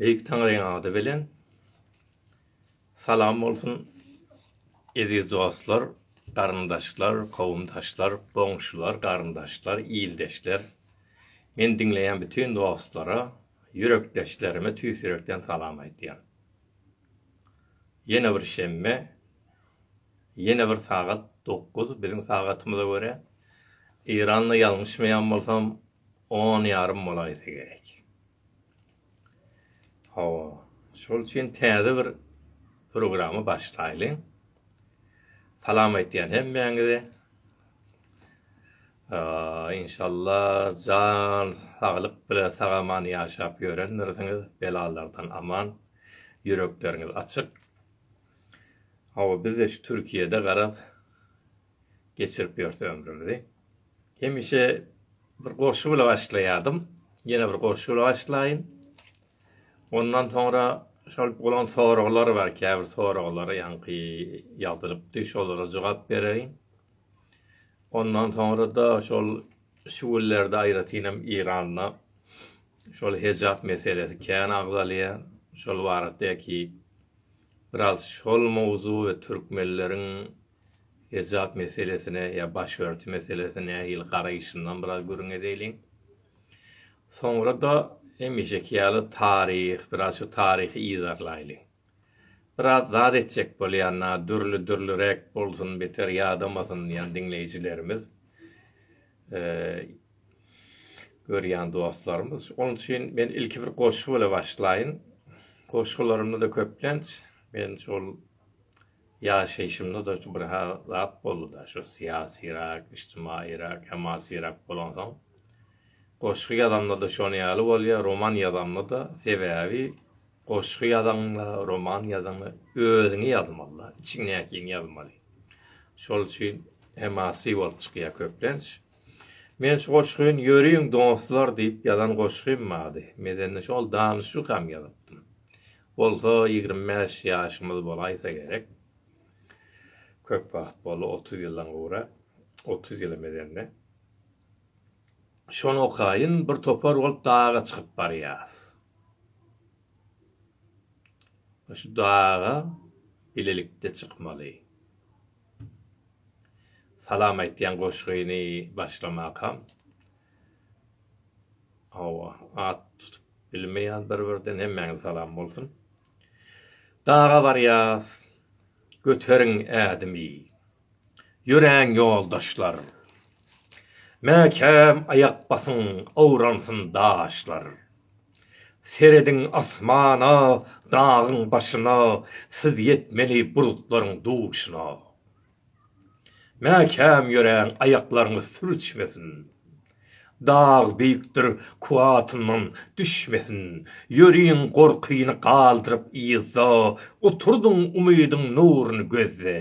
Beýik Taňryň ady bilen salam bolsun eziz dostlar, garyndaşlar, kowumdaşlar, goňşular, garyndaşlar, ildeşler, meni diňleýän bütin dostlara, ýürekdeşlerime tüýs ýürekden salam aýtýan. Ýene bir şenbe, ýene bir sagat dokuz biziň sagatymyza görä, Eýranda ýalňyşmaýan bolsam, On ýarym bolaýsa gerek. Hawa, şol üçin täze bir programy başlaýlyň. Salam aýtýan hemmäňize. Inşalla jan saglyk bilen sagaman ýaşap ýörendirsiňiz, belalardan aman, ýürekleriňiz açyk. Hawa, biz-de şu Türkiýede garaz geçirip ýörs ömrümizi. Hemişe bir goşgy bilen başlaýardym. Ýene bir goşgy bilen başlaýyn. Ondan soňra şol bolan soraglar bar, käbir soraglar ýaňky ýazylypdy, şolara jogap bereýin. Ondan soňra-da şol şu günlerde aýratynam Eýranda şol hejap meselesi kän agzalýar. Şol baratdaky biraz şol mowzuk we türkmenleriň Hejap meselesine ýa başörti meselesine nähili garaýyşyndan biraz gürrüň edeýliň. Soňra-da hemişeki ýaly taryh, biraz şu taryhy yzarlaýlyň. Biraz zat etjek bolýan-a, dürli-dürliräk bolsun, beter ýadamasyn diýýän diňleýjilerimiz, görýän dostlarymyz. Onuň üçin men ilki bir goşgy bilen başlaýyn. Goşgularymda-da köplenç men şol Ýaşaýşymda-da şu bir zat boldy-da, şu syýasyrak, ijtimaýyrak, hemasyrak bolansoň, goşgy ýazamda-da şonuň ýaly bolýar, roman ýazamda-da, sebäbi goşgy ýazaňda, roman ýazaňda özüňi ýazmaly-da, içiňdäkini ýazmaly. Şol üçin hemasy bolup çykýar köplenç. Men şu goşgyny Ýöriň dostlar diýip ýazan goşgym bardy. Medeni şol danyşlykam ýazypdym. bolsa ýigrimi bäş ýaşymyz bolaýsa gerek. Köp wagt boldy, otuz ýyldan gowra, otuz ýyla mezende. Şonakaýyn bir topar bolup daga çykyp barýas. Şu daga bilelikde çykmaly. Salam aýtýan goşgyny başlamakam. Hawa, at tutup bilmeýäs bir-birden, hemmäňize salam bolsun. Daga barýas, göteriň ädimi, ýöräň ýoldaşlar. Mäkäm aýak basyň, awransyn daşlar. Serediň asmana, dagyň başyna, siz ýetmeli bulutlaryň duşuna. Mäkäm ýöräň aýaklaryňyz sürçmesin. Dag beýikdir kuwwatyndan düşmesin. Ýöriň gorkyny galdyryp yzda, Oturdyň umydyň nuruny gözde.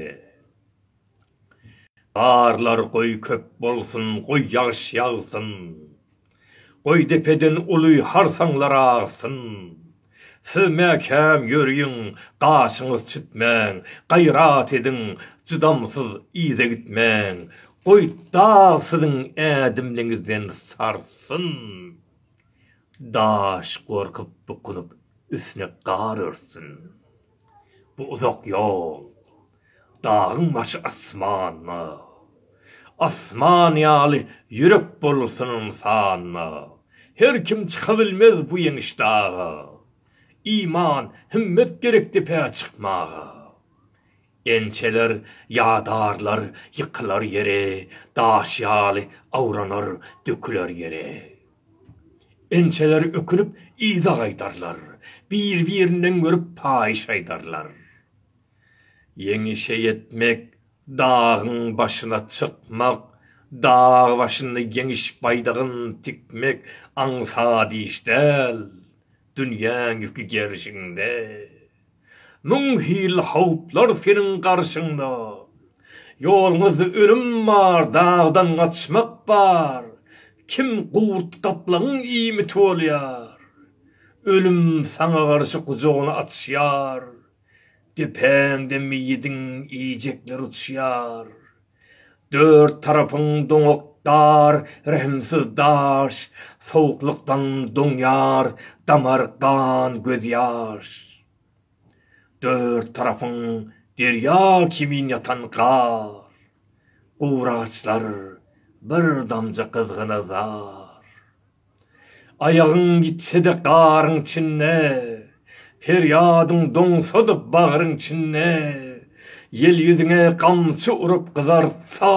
Garlar goý köp bolsun, goý ýagyş ýagsyn. Goý depeden uly harsaňlar agsyn. Siz mäkäm ýöriň, gaşyňyz çütmäň, gaýrat ediň, jydamsyz yza gitmäň. Goý dag siziň ädimliňizden sarsyn. Daş gorkup bukunyp üstüne gar örtsün. Bu uzak ýol, dagyň başy asmanda, Asman ýaly ýürek bolsun ynsanda. Her kim çyka bilmez bu ýeňiş daga, Iman, himmet gerek depä çykmaga. Ençeler ýadarlar, ýykylar ýere, Daş ýaly awranar, döküler ýere. Inçeleri ökünip yza gaýdarlar, bir-birinden görüp paýyş aýdarlar. Ýeňişe ýetmek, dagyň başyna çykmak, dag başynda ýeňiş baýdagyn tikmek aňsat iş däl, dünýäň ýüki gerşiňde. Müň hil howplar seniň garşyňda. Ýoluňyzda ölüm bar, dagdan gaçmak bar, Kim gurt gaplaňyň iýmiti bolýar. Ölüm saňa garşy gujagyny açýar, Depäňde meýidiň iýjekleri uçýar. Dört tarapyň doňak dar, rehimsiz daş, Sowuklykdan doňýar damar gan gözýaş. Dört tarapyň derýa kimin ýatan gar, Guragaçlar, bir damja gyzgyna zar. Aýagyň ýitse-de garyň içinde, Perýadyň doňsa-da bagryň içinde, Ýel ýüzüňe gamçy urup gyzartsa,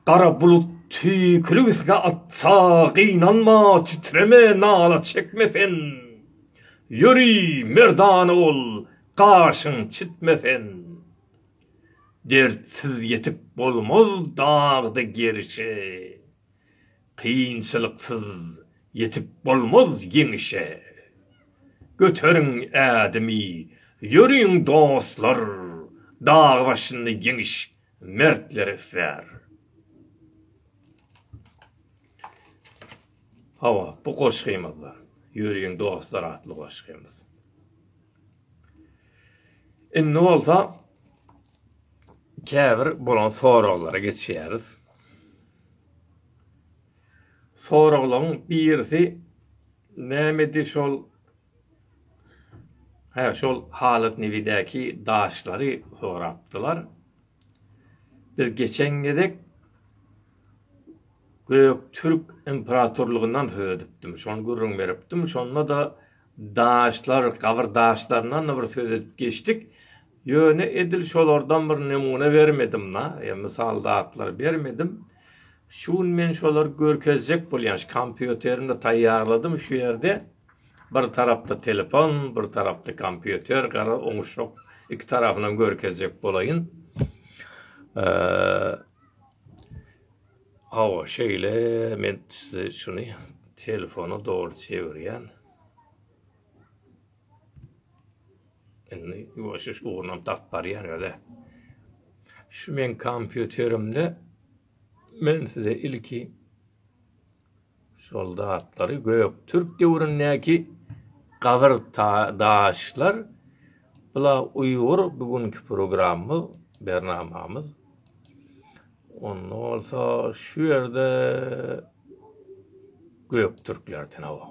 Gara bulut tüýkülik üstüňe atsa, Gynanma, titreme, nala çekme sen, Ýöri, merdana bol, gaşyň çitme sen. Dertsiz ýetip bolmaz dagda gerişe. Kynçylyksyz ýetip bolmaz ýeňişe, Göteriň ädimi, ýöriň dostlar, Dag başynda ýeňiş mertleri islär. Hawa, bu goşgymyzda, Ýöriň dostlar atly goşgymyz. Indi bolsa käbir bolan soraglara geçýäris. Soraglaryň birisi nämedi şol Hä, şol Halat Nevidäki daşlary sorapdylar. Biz geçen gezek Göktürk imperatorlygyndan söz edipdim. Şony gürrüň beripdim. Şonda-da Daşlar, gabyr daşlaryndan-da bir söz edip geçdik. Ýöne edil şolardan bir nemune bermedim-la, ýa mysal zatlar bermedim. Şu gün men şolary görkezjek bolýan, şu kompýuterimde taýýarladym, şu ýerde bir tarapda telefon, bir tarapda kompýuter, garaz, oňuşjak, iki tarapynam görkezjek bolaýyn. Hawa şeýle men size şuny telefona doly çevirýän. Indi ýuwaş-ýuwaş ugrunam tapyp barýan öle. Şu men kompýuterimde men size ilki Soldatlary göktürk döwründäki gabyr daşlar bula uýgur bu günki programmyz bernamamyz onda bolsa şu ýerde göktürklerden hawa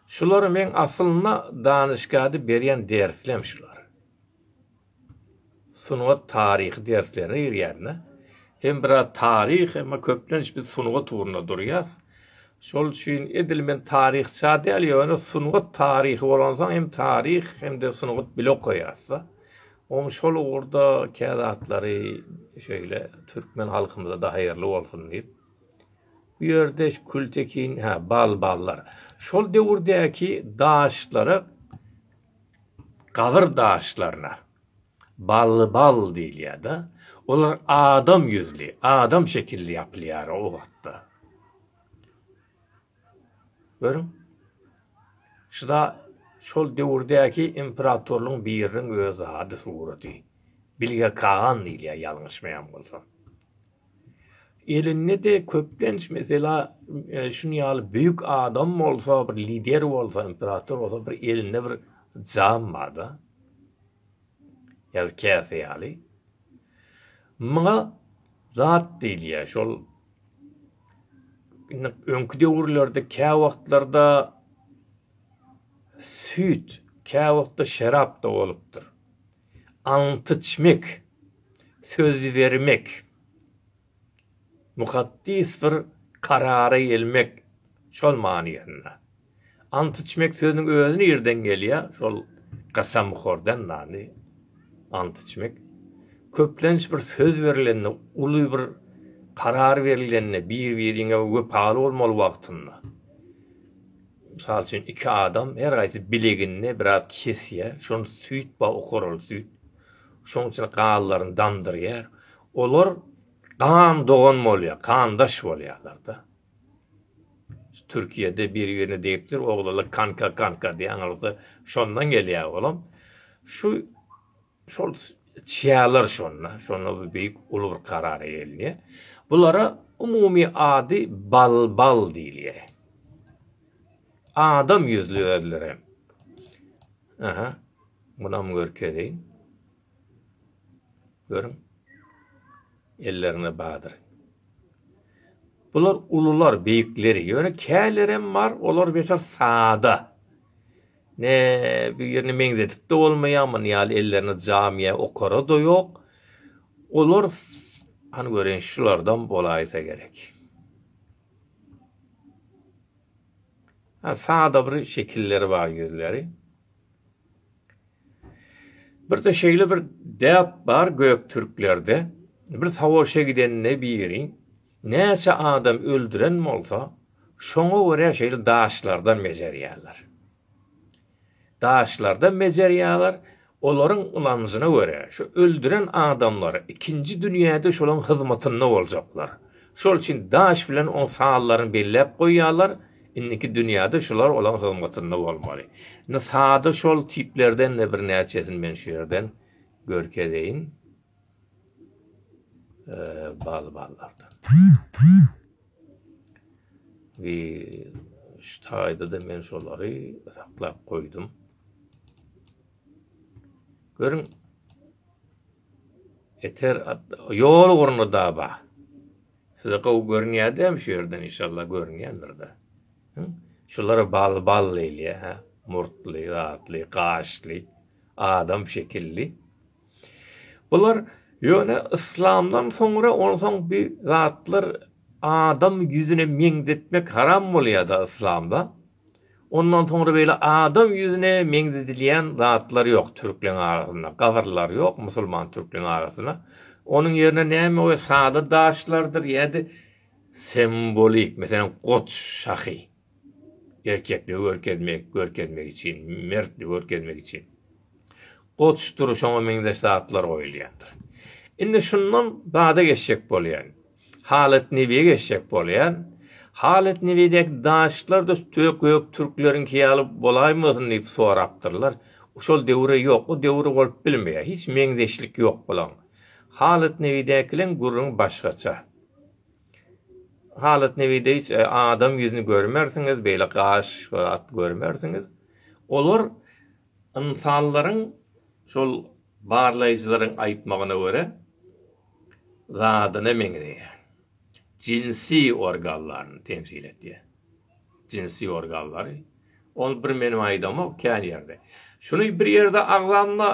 şulary men aslynda danyşgada berýän derslem şular sungat taryhy derslerine girýände hem biraz taryh, emma köplenç biz sungat ugrunda durýas. Şol üçin edil men taryhça däl, ýöne sungat taryhy bolansoň hem taryh hem-de sungat bile okaýasda. Oň şol ugurda kä zatlary şeýle türkmen halkymyza-da haýyrly bolsun diýip. Bu ýerde Kültekin, hä, bal, ballar. Şol döwürdäki daşlara Gabyr daşlaryna Ballybal diýilýär-de, olar adam ýüzli, adam şekilli ýapylýar o wagtda. Görüň, şuda şol döwürdäki imperatorlaryň biriniň öz ady, suraty. Bilge Kagan diýilýär, ýalňyşmaýan bolsam. Elinde-de köplenç mesela şuny ýaly büyük adam bolsa bir lider bolsa imperator bolsa bir elinde bir jam barda. Ýa-da käse ýaly. Muňa zat diýilýär. Şol öňki döwürlerde kä wagtlarda süýt, kä wagtda şerap da bolupdyr. Antyçmek, söz bermek. Mukaddys bir karara gelmek, şol manysynda. Ant içmek sözüniň özi nireden gelýär? Şol gasamhordan dany. Ant içmek. Köplenç bir söz berilende, uly bir karar berilende, bir-biriňe wepaly bolmaly wagtynda. Mysal üçin, iki adam her gaýsy bileginde biraz kesýär, şony süýt ba okaraly süýt. Şoň içine gallaryny damdyrýar. Olar gan dogan bolýar, gandaş bolýarlar-da. Türkiýede biri-birine degipdir, oglanlar kanka-kanka diýýär, aňyrda şondan gelýär olam. Şu Şol çýalar şonda, şonda bu beýik uly bir karara gelinýär. Bulara umumy ady Balbal diýilýär. Adam ýüzli özlerem. Aha, munam görkezeýin. Görüň. Ellerine badyr. Bular ulular, beýikleri. Ýöne kälerem bar, olar beter sada. Ne birini meňzedip-de bolmaýar, muny ýaly ellerine jamiýe okara-da ýok. Olar, hany göreýin, şulardan bolaýsa gerek. Sada bir şekilleri bar ýüzleri. Bir-de şeýle bir däp bar göktürklerde. Bir sawuşa gidende biri. Näçe adam öldüren bolsa, şoňa görä şeýle daşlardan bejerýärler. Daşlardan bejerýärler, olaryň ynanjyna görä, şu öldüren adamlary ikinji dünýäde şolaň hyzmatynda boljaklar. Şol üçin daş bilen oň sanlaryny belläp goýýarlar, indiki dünýäde şular olaň hyzmatynda bolmaly. Indi sada şol tiplerden-de birnäçesini men şu ýerden görkezeýin. Bal ballardan. We şu taýda-da men şolary saklap goýdum. Görüň. Eter ýol ugruna da ba. Size gowy görünýär-de şu ýerden inşallah görünýändir-de. Şulara bal bal eýlýär, murtly, gatly, gaşly, adam şekilli. Bular ýöne yslamdan soňra onsoň bi zatlar adam ýüzüne meňzetmek haram bolýada yslamda ondan soňra beýle adam ýüzüne meňzedilýän zatlar ýok türkleň arasynda gabyrlar ýok musulman türkleň arasynda onuň ýerine näme goýýar sada daşlardyr ýa-da sembolik meselem goç şahy. Erkekli görkezmek, görkezmek üçin, mertli görkezmek üçin. Goçdur, şoňa meňzeş zatlar goýulýandyr. Indi şundan bada geçjek bolýan. Halat Nebiýe geçjek bolýan. Halat Nebiýdäki daşlar-da gök türkleriňki ýaly bolaýmasyn diýip sorapdyrlar. Şol döwür-ä ýok, o döwür bolup bilmeýär. Hiç meňzeşlik ýok bulaň. Halat Nebiýdäkileň gürrüňi başgaça. Halyt Newideýiç adam ýüzüni görmersiňiz, beýle gaş zat görmersiňiz. Olar ynsanlaryň şol barlaýjylaryň aýtmagyna görä zadyna meňzeýär. Jinsi organlaryny temsil edýär. jynsy organlary, ol bir menim aýdamok kän ýerde. Şuny bir ýerde agzamda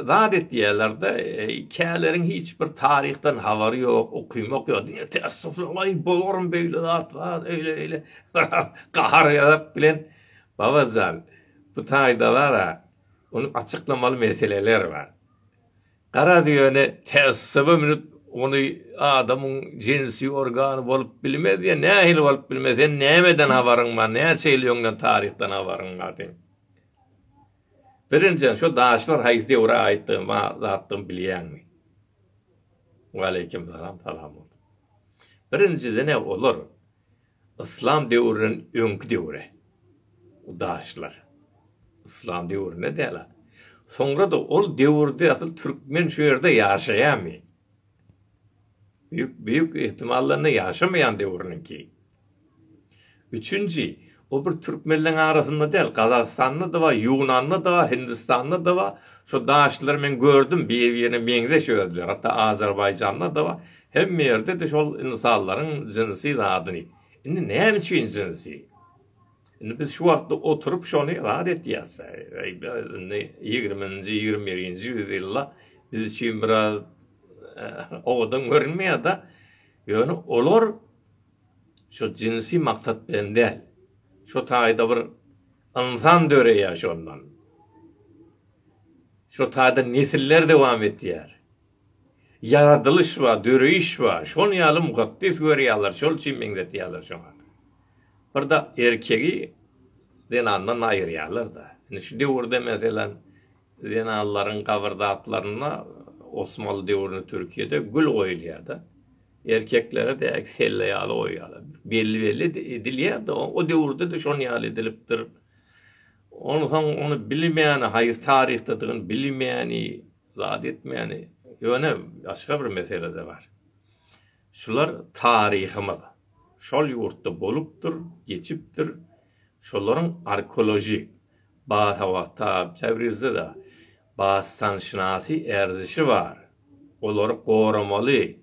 zat etýärlerde, käleriň hiç bir taryhdan habary ýok, okymok ýok, diňe teessufly aý bolarmy beýle zat bar, öýle beýle gahar gazap bilen Babajan bu taýda bara ony açyklamaly meseleler bar. Garaz, ýöne tässuba münüp, ony adamyň jinsi organy bolup bilmez ýa nähili bolup bilmez, sen nämeden habaryň bar, näçe ýyl öňden taryhdan habaryň bar seň? Birinjiden, şo daşlar haýsy döwre aýtdygy ma zatdygyny bilýäňmi? Waleýkim salam, salam bolsun. Birinjiden-ä olar Yslam döwründen öňki döwre, udaşlar. Yslam döwründe däl-a. Soňra-da ol döwürde asyl türkmen şu ýerde ýaşaýamy? Büýük, büýük ihtimaldan-da ýaşamaýan döwrüniňki. Üçünji, O bir türkmenleň arasynda däl, Gazagystanda-da bar, Ýunanda-da bar, Hindistanda-da bar. Şo daşlary men gördüm, bir-birine meňzeş özleri. Hatda Azerbaýjanda-da bar. Hemme ýerde-de şol ynsanlaryň jinsi zadyny. Indi näme üçin jinsi? Indi biz şu wagtda oturyp şony rad etýäs. Indi ýigriminji, ýigrimi birinji ýüzýylda biz üçin biraz owadan görünmeýär-de. Ýöne olar Şu jynsy maksat bilen däl. Şu taýda bir ynsan döreýär şondan. Şu taýda nesiller dowam etýär. Ýaradylyş bar, döreýiş bar. Şony ýaly mukaddes görýärler, şol üçin meňzetýärler şoňa. Bir-de erkegi zenandan aýyrýarlar-da. Indi şu döwürde meselem Zenanlaryň gabyrzatlaryna Osmanly döwründe Türkiýede gül goýulýardy. Erkeklere däki selle ýaly goýýarlar. Belli belli edilýärdi. O döwürde-de şon ýaly edilipdir. Onsoň ony bilmeýäni, haýsy taryhdadygyny bilmeýäni, zat etmeýäni. Ýöne başga bir mesele-de bar. Şular taryhymyz. Şol ýurtda bolupdyr, geçipdir. Şolaryň arkeolojik, basawata, Täbrizde-de bastan-şynasy erzişi bar. Olary goramaly.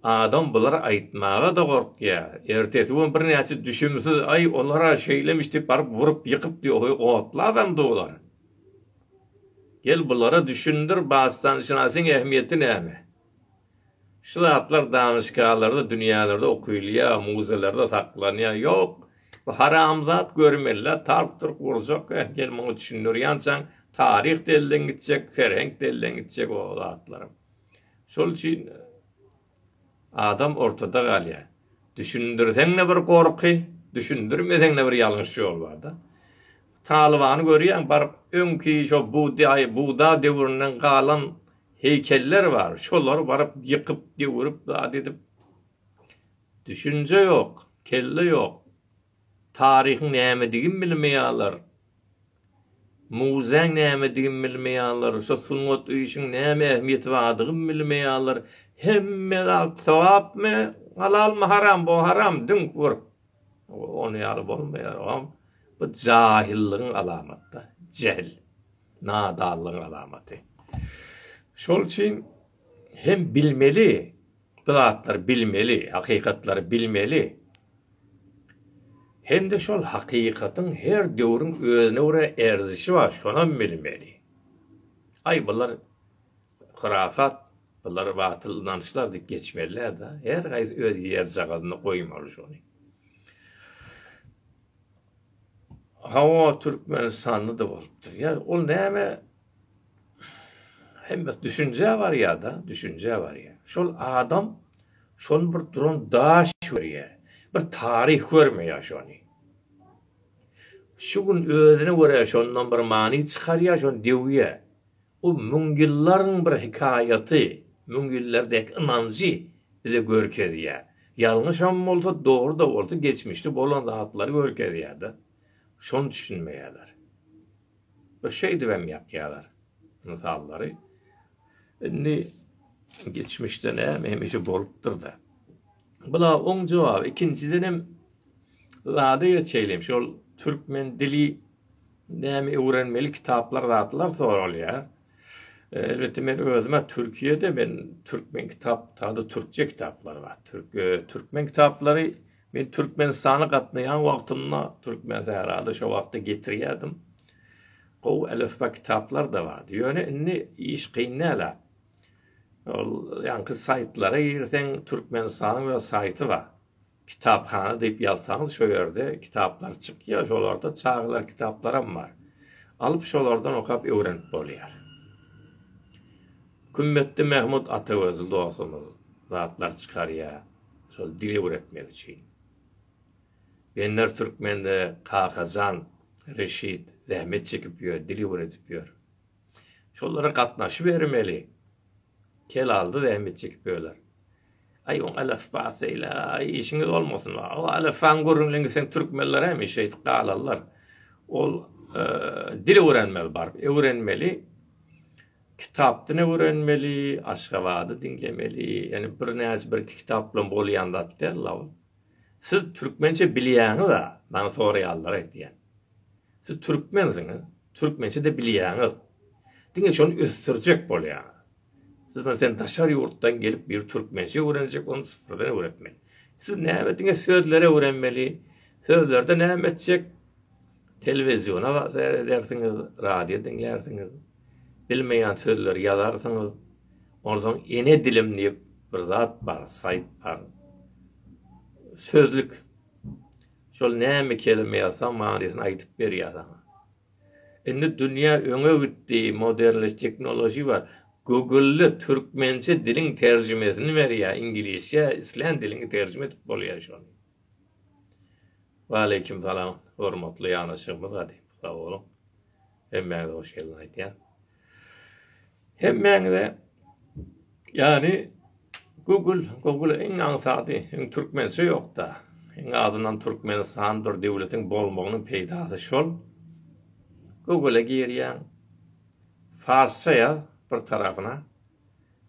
Adam bulary aýtmaga-da gorkýar. Ertesi gün birnäçe düşümsiz, Aý, olar-a şeýlemişdi, baryp urup, ýykypdy, oý, otlabam dolar. Gel, bulara düşündir, bastan-şynasyň ähmiýeti näme? Şu zatlar danyşgalarda, dünýälerde okylýar, muzeýlerde saklanýar. Ýok, bu haramzat görmeli-ä, talp turp urjak, eh, gel muňa düşündir. Ýançaň taryh-da elden gitjek, ferhenk-de elden gitjek o zatlaram. Şol üçin adam ortada galýar. Düşündirseň-de bir gorky, düşündirmeseň-de bir ýalňyş ýol bar-da. Talybany görýäň, baryp öňki şo Budda döwründen galan Heýkeller bar, şolary baryp ýykyp, döwürip zat edip. Düşünje ýok, kelle ýok. Taryhyň nämedigin bilmeýaler. Muzäň nämedigin bilmeýaler, şo sungat öýşiň näme ähmiýeti bardygyn bilmeýaler. Hemme zat sogapmy, halalmy, haram bu haram düňk bir ony ýaly bolmaýar ogam. Bu jahyllygyň alamaty, jähil. nadanlygyň alamaty. Şol üçin hem bilmeli, bu zatlary bilmeli, hakykatlary bilmeli. Hem-de şol hakykatyň her döwrüň özüne görä erzişi bar, şonam bilmeli. Aý, bular hurafat, bular batyl ynançlar diýip geçmeli-dä, her gaýsy öz ýerjagazyna goýmaly şony. Hawa Türkmenistanlada bolupdyr. Ýa ol näme hemme düşünjä barýada, düşünjä barýa. Şol adam şony bir duran daş görýä. Bir taryh görmeýä şony. Şu gün özüne görä şondan bir many çykarýa, şony döwýä. Bu müňýyllaryň bir hekaýaty, müňýyllar dek ynanjy bize görkezýär. Ýalňyşam bolsa, dogry-da bolsa geçmişde bolan zatlary görkezýär-de. Şony düşünmeýärler. Bir şeýdibem ýakýarlar mysallary. Indi geçmişde näme hemişe bolupdyr-da. Bula oň jogaby. Ikinjidenem zada geçeýlim. Şol türkmen dili Näme öwrenmeli kitaplar zatlar soralýar. Elbetde men özüme Türkiýede men türkmen kitap taýda türkçe kitaplar bar. Türk e, türkmen kitaplary men Türkmenistana gatnaýan wagtymda türkmen sährada şo wagtda getirýärdim. Gowy elifba kitaplar da bar. Ýöne indi iş kyn näle. Ol ýaňky saýtlara girseň Türkmenistanyň öz saýty bar. Kitaphana diýip ýazsaňyz şo ýerde kitaplar çykýar, şolarda çagalar kitaplarym bar. Alyp şolardan okap öwrenip bolýar. Kümmetdi Mähmut Atagözli dostumyz zatlar çykarýar şol dil öwretmek üçin. Benler Türkmende Kakajan Reşit zähmet çekip ýör, dil öwredip ýör. Şolara gatnaşybermeli. Helaldy zähmet çekip böler. Aý oň alafbasy ila aý işiňiz bolmasyn. O alafan gürrüňlen gitseň türkmenler hemişe şeýdip galarlar. Ol e, dil öwrenmeli baryp, öwrenmeli. Kitapdan öwrenmeli, Aşgabady diňlemeli. Ýani bir näçe bir iki kitap bilen bolýan zat däl Siz türkmençe bilýäňiz-a? Maňa soraýarlar aýtýan. Siz türkmensiňiz, türkmençe-de bilýäňiz. Diňe şony ösdürjek bolýaňyz. Siz bilen sen daşary ýurtdan gelip bir türkmençe öwrenjek, ony syfyrdan öwretmeli. Siz näme diňe sözleri öwrenmeli, sözlerde näme etjek, telewiziona seýredersiňiz, radio diňlärsiňiz, bilmeýän sözleri ýazarsyňyz. Onsoň ene dilim diýip bir zat bar, saýt bar. Sözlük. Şol näme kelime ýazsaň manysyny aýdyp berýär saňa. Indi dünýä öňe gitdi, modernleş teknoloji bar. Google-de türkmençe diliň terjimesini berýär, iňlisçe islän diliňi terjime edip bolýar şony. Waleýkim salam hormatly ýanaşygymyz gadymy sag boluň. Hemmäňize hoş geldiň aýdýan. Hemmäňize ýany Google, Google iň aňsady, iň türkmençe ýokda. Iň azyndan Türkmenistan bir döwletiň bolmagynyň peýdasy şol. Google-a girýäň. Farsça ýaz bir tarapyna.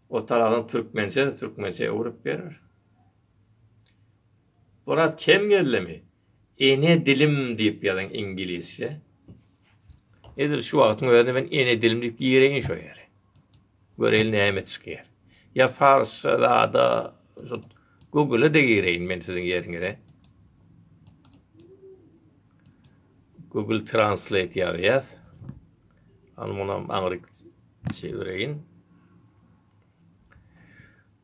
O tarapdan türkmençe, türkmençe öwrüp berer. Oraz kem gellemi? Ene dilim diýip ýazyň iňgilisçe. Edil şu wagtyň özünde men ene dilim diýip gireýin şo ýere. Göreýin näme çykýar. Ýa farsça zada Google-a da gireýin men siziň ýeriňize. Google Translate ýazýas. Al munam aňryk çevireýin.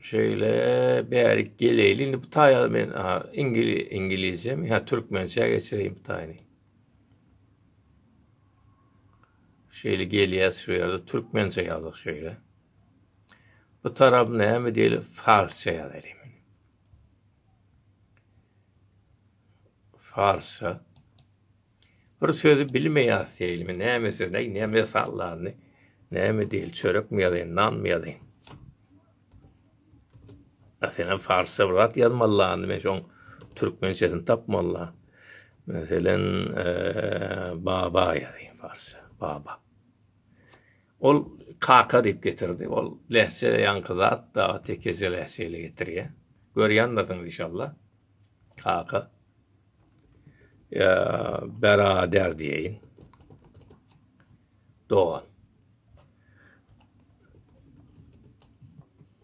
Şeýle bärik geleýli indi bu taýa men iňgilizçe mi ýa türkmençä geçireýin bu taýyny. Şeýle gelýär şu ýerde türkmençe ýazyk şeýle. Bu tarap näme diýil farsça ýazaýyn. Farsça. Bir sözi bilmeýas seýlimi näme söz aý näme sallandy näme diýil çörekmi ýazaýyn nanmy ýazaýyn Meselem farsça bir zat ýazmaly landy men şoň türkmençesini tapmalla Meselem baba ýazaýyn farsça baba Ol kaka diýip getirdi ol lehçe ýaňky zat da tekece lehçe ile getirýär görýändirsiňiz inşallah kaka Ýa berader diýeýin. Dogan.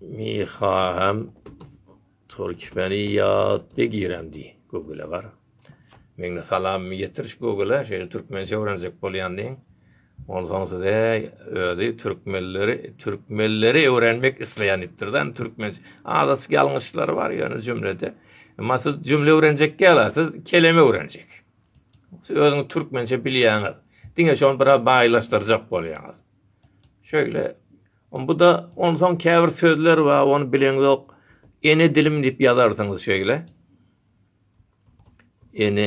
Miha hem Türkmeni ýat be girem diý. Gögüle bar. Meňne salam ýetir şu gögüle. Şeýle türkmençe öwrenjek bolýan diýeň. Onsoň size özi türkmenleri türkmenleri öwrenmek isleýän diýipdir da türkmen azajyk ýalňyşlary bar ýöne jümlede emma siz jümle öwrenjek ýala siz keleme öwrenjek siz özüňiz türkmençe bilýäňiz diňe şony biraz baýlaşdyrjak bolýaňyz şöyle bu da onsoň käbir sözler bar ony bileňiz ýok ene dilim diýip ýazarsyňyz şöyle ene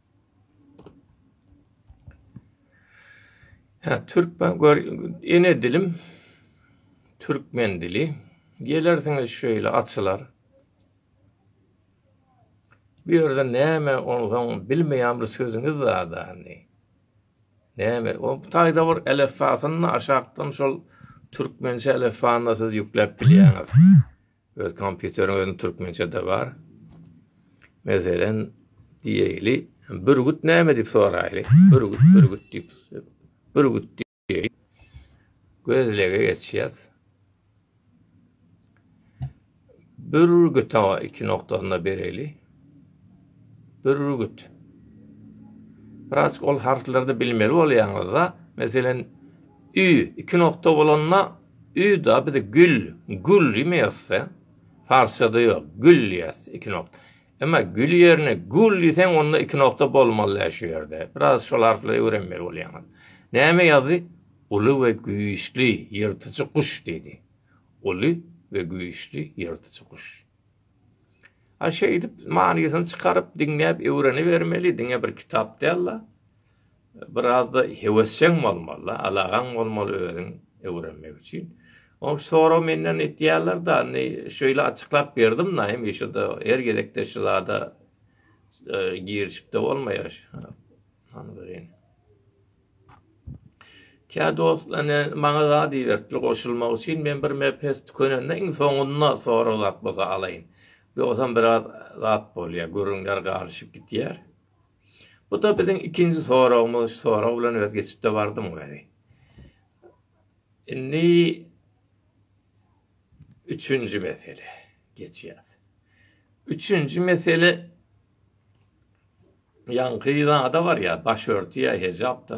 Hä, türkmen gör, ene dilim türkmen dili. Gelersiňiz şeýle açylar. Bu ýerde näme onsoň bilmeýän bir sözüňiz zadany. Näme, o taýda bir elefbasyny aşakdan şol türkmençe elefbany siz ýükläp bilýäňiz. Öz kompýuteriň özüň türkmençede bar. Meselen diýeli, bürgüt näme diýip soraýly. Bürgüt, bürgüt diýip. Bürgüt diýeli. Gözlege geçýäs. Bürgüt awa iki noktasynda bereli. Bürgüt. Biraz ol harflerde bilmeli bolýaňyzda, meselen, ü iki nokta bolanda Ýa-da biz gül, gul diýmeýogsda, parsçada ýok, gül diýýäs, iki nokta. Emma gül ýerine gul diýseň, onda iki nokta bolmaly-dä şu ýerde. Biraz şol harflary öwrenmeli bolýaňyz. Näme ýazdy? Uly we güýçli ýyrtyjy guş diýdi. Uly we güýçli ýyrtyjy guş. A şeýdip manysyny çykaryp, diňläp öwrenibermeli, diňe bir kitap däl-de. Birazda hewesjeň bolmaly-da, alagaň bolmaly özüň öwrenmek üçin. Ony sorag menden etýärler-de, indi şeýle açyklap berdim-de, indi şo-da her gezekde şu zada girişip-de bolmaýar. Hany görýän. Kä dost ine maňa zat iberipdir goşulmak üçin, men bir mps tükenende iň soňunda sorag zat bolsa alaýyn. Ýogsam biraz zat bolýar, gürrüňler garyşyp gitýär. Bu-da biziň ikinji soragymyz. Şu sorag bilen öz geçip-de bardym weli. Indi üçünji mesele geçýäs. Üçünji mesele ýaňky zada barýar, başörtüýä, hejap-da.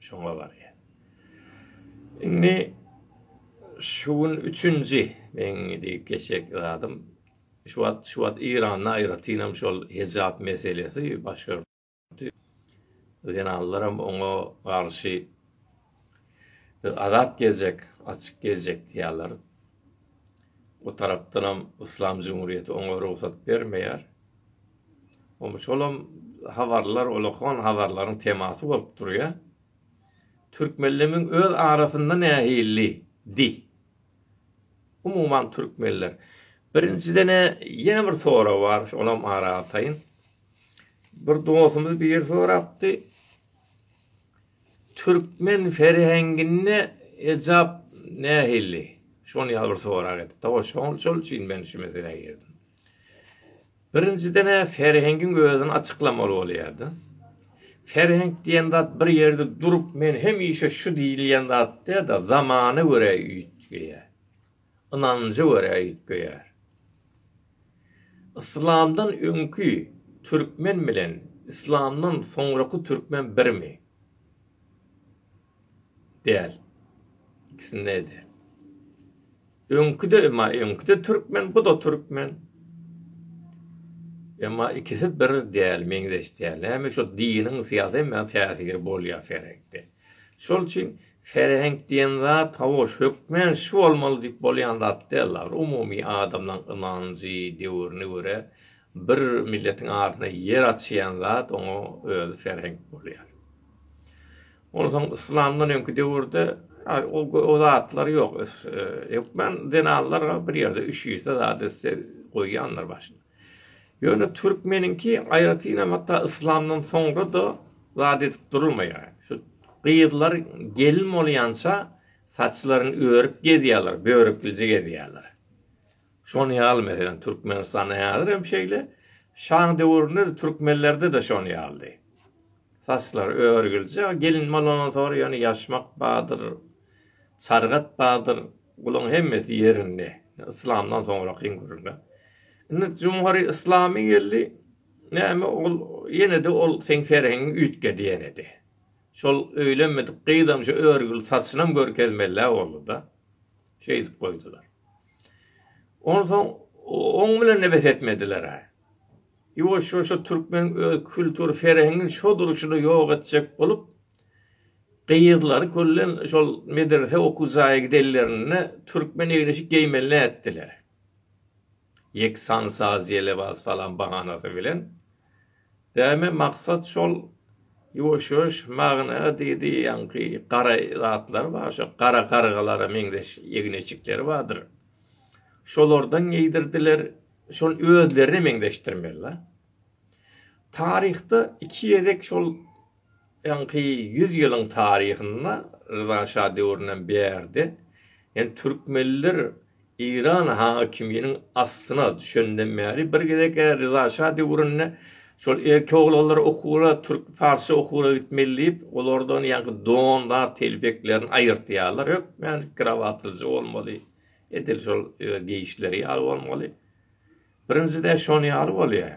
Şoňa barýar. Indi şu gün üçünji meň diýip geçjek zadym. Şu wagt, şu wagt Eýranda aýratynam şol hejap meselesi baş görüpdi. Zenanlaram oňa garşy biz azat gezjek, açyk gezjek diýýärler. O tarapdanam Yslam jumhuriýeti oňa rugsat bermeýär. Goňşy bolam habarlar olakan habarlaryň temasy bolup durýa. Türkmenlemiň öz arasynda nähilli di. Umuman türkmenler. Birinjidene ýene bir sorag bar, şolam ara ataýyn. Bir dostumyz bir sorapdy. Türkmen ferhenginde ejap nähilli? Şony ýa bir sorag edipdi. Şol şol üçin men şu meselä girdim. Birinjiden-ä Serhengiň özüni açyklamaly bolýardy. Serheng diýen zat bir ýerde durup, men hemişe şu diýilýän zat däl-de, zamana görä üýtgeýär. Ynanja görä üýtgeýär. Yslamdan öňki türkmen bilen yslamdan soňraky türkmen birmi? däl. Ikisinde däl. Öňküde emma öňküde türkmen, bu da türkmen. Emma ikisi bir däl, meňzeş däl. Näme şu diniň syýasy emma täsiri bolýar ferekde. Şol üçin ferhenk diýen zat hawa hökmen şu bolmaly diýip bolýan zat däl agr umumy adamlaň ynanjy döwrüne görä Bir milletiň adyna ýer açýan zat oňa özi serheňk bolýar. Onsoň yslamdan öňki döwürde o zatlar ýok. Hökman zenanlar bir ýerde üşüse zat etse goýýandyr başyna. Ýöne türkmeniňki aýratynam hatda yslamdan soňra-da zat edip durulmaýar. Şu gyzlar gelin bolýança saçlaryny örüp gezýärler, börüklije gezýärler. Şonuň ýaly, meselem, Türkmenistanda häzir hem şeýle, şaň döwründe-de türkmenlerde-de şonuň ýalydy. Saçlar örgülje, gelin bolandan soň ýöne ýaşmak bardyr, çargat bardyr, bularyň hemmesi ýerinde. Yslamdan soňrak iň gürrüňi. Indi jumhury yslamy geldi, näme ol ýene-de ol seň serheňiň üýtgedi ýene-de. Şol öýlenmedik gyzam şu örgül saçynam görkezmeli-ä boldy-da. Şeýdip goýdular. Onsoň oň bilen-de bes etmediler-ä. Ýuwaş-ýuwaşja türkmeniň öz kültur ferhengini şo duruşyna ýok etjek bolup, gyzlary köllen şol medrese okuw jaýa gidenlerinde türkmen egin-eşik geýmeli nätdiler. Ýeksan saz-ýelebaz falan bahanasy bilen. Däme maksat şol ýuwaş-ýuwaş magna diýdi ýaňky gara zatlar bar şo gara gargalara meňzeş ýegneçikleri bardyr şolardan geýdirdiler şol özlerine meňzeşdirmeli la taryhda iki gezek şol Öňki ýüz ýylyň taryhynda, Ryza şa döwründen bärde, ýani türkmenler Eýran hakiminiň astyna düşenden bäri, bir gezek Ryza şa döwründe şol erkek oglanlar okuwra, türk, parsça okuwra gitmeli diýip, olardan ýaňky don, zat, telpeklerini aýyrtýarlar, hökmän krawatlyja bolmaly, edil şol öz geýişleri ýaly bolmaly. Birinjide şony ýaly bolýar.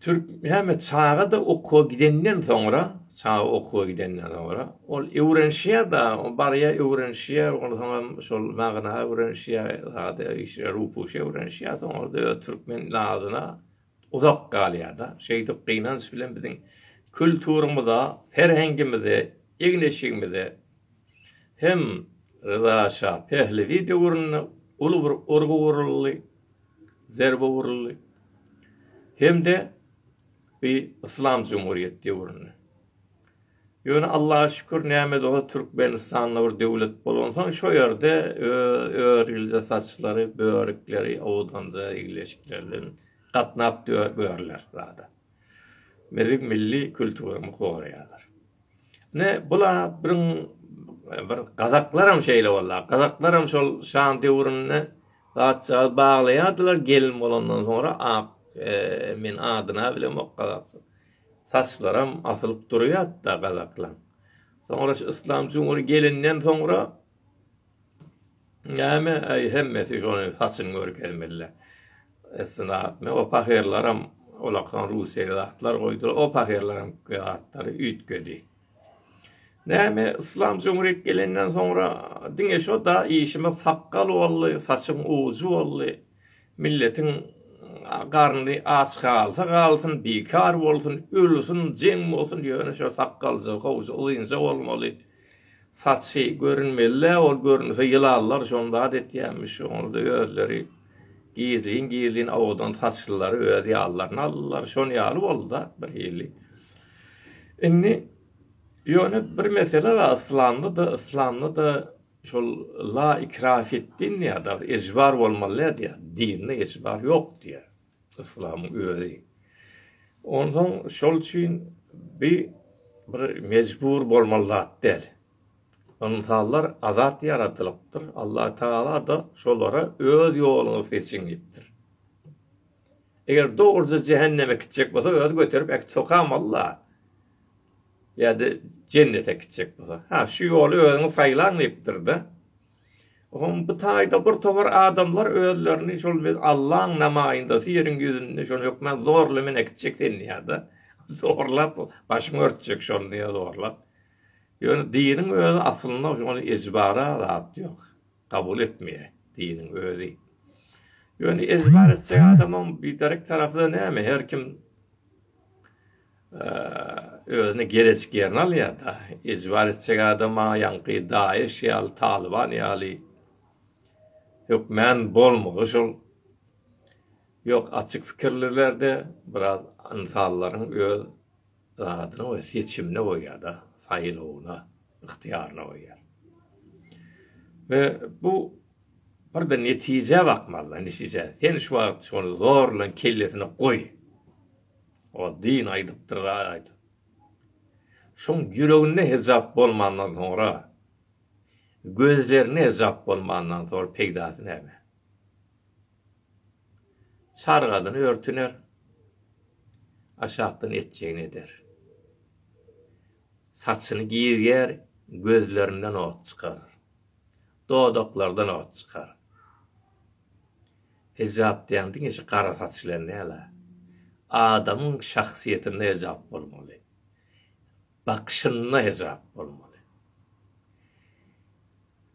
Türkmühammet çaga-da okuwa gidenden soňra, çaga okuwa gidenden soňra, ol öwrenişýär-de, barýar öwrenişýär, onsoňam şol magna öwrenişýär, sada işler, rupuşy öwrenişýär, soňra-da öz türkmen nazyna uzak galýar-da. Şeýdip, gynanç bilen biziň kulturymyza, ferhengimize, egin-eşigimize hem Ryza şa Pehlewi döwründe uly bir urgy uruldy. zerbä uruldy hem-de bi yslam jumhurýet döwründe. Ýöne Allaha şükür näme bolsa Türkmenistanda bir döwlet bolansoň şo ýerde örilje saçlary, börükleri, owdanja, igleşikler bilen gatnap görler zada. biziň milli külturymyzy goraýarlar. Ine, bula biriň bir gazaklaram şeýle bollar. Gazaklaram şol şaň döwründe gaçjaz baglaýardylar, gelin bolandan soňra ak, men adyna bilemok gazakçy. Saçlaram asylyp durýardy-da gazaklaň. Soňra şu Yslam Cumhur gelinden soňra Näme äý hemmesi şony saçyň görkezmeli. Esnap me o pahyrylaram olakan russiýa zatlar goýdylar o pahyrylaram zatlary üýtgedi. Näme yslam jumhurýet gelenden soňra diňe şo da işimiz sakgal boldy saçyň ujy boldy milletiň garny aç galsa galsyn bikar bolsun ölsün jeň bolsun ýöne şo sakgalja howja uzynja bolmaly. Saçy görünmeli-dä, ol görünse ýylanlar şony zat etýänmiş, onda özleri gizlin-gizlin owadan saçlylary öz ýanlaryna aldylar, şon ýaly boldy zat bir hili. Indi ýöne bir mesele bar, yslamda-da, yslamda-da şol la ikraha fid-din diýýär, ejbar bolmaly däl diýýär, dinde ejbar ýok diýýär. Yslamyň özi. Onsoň şol üçin bi bir mejbur bolmaly zat däl. Ynsanlar azat ýaradylypdyr, Allah Tagala-da şolara öz ýoluňyzy seçiň diýipdir. Eger dogruja jähenneme gitjek bolsa özi göterip äkidip sokamaly-la. Ýa-da jennete gitjek bolsa. Ha, şu ýoly özüňiz saýlaň diýipdir-de. Oňa bu taýda bir towar adamlar özlerini şol biz Allaň namaýyndasy ýeriň ýüzünde şony hökman zorla men äkitjek seni diýýärdi. Zorlap başyňy örtjek şony diýýär zorlap. Ýöne diniň özi aslynda şony ejbara zat ýok. Kabul etmeýär diniň özi. Ýöne ejbar etjek adamyň biderek tarapy näme her kim özüne gereçik ýerini alýar da ejbar etjek adama ýaňky daýyş ýaly talyban ýaly hökmän bolmagy şol ýok açyk pikirlilerde biraz ynsanlaryň öz zadyna we seçimine goýýarda saýlawyna ygtyýaryna goýýar we bu bir de netijä bakmalyda netijä sen şu wagt şony zorlan kellesine goý Ol dyn aýdypdyr-da aýdyp. Şoň ýüreginde hejap bolmandan soňra, gözlerinde hejap bolmandan soňra peýdasy näme? Çargadyny örtüner, aşakdan etjegini eder. Saçyny girger, gözlerinden ot çykar. Dodaklardan ot çykar. Hijap diýýän diňe şu gara saç bilen däl-ä. Adamyň şahsyýetinde hijap bolmaly. Bakyşynda hijap bolmaly.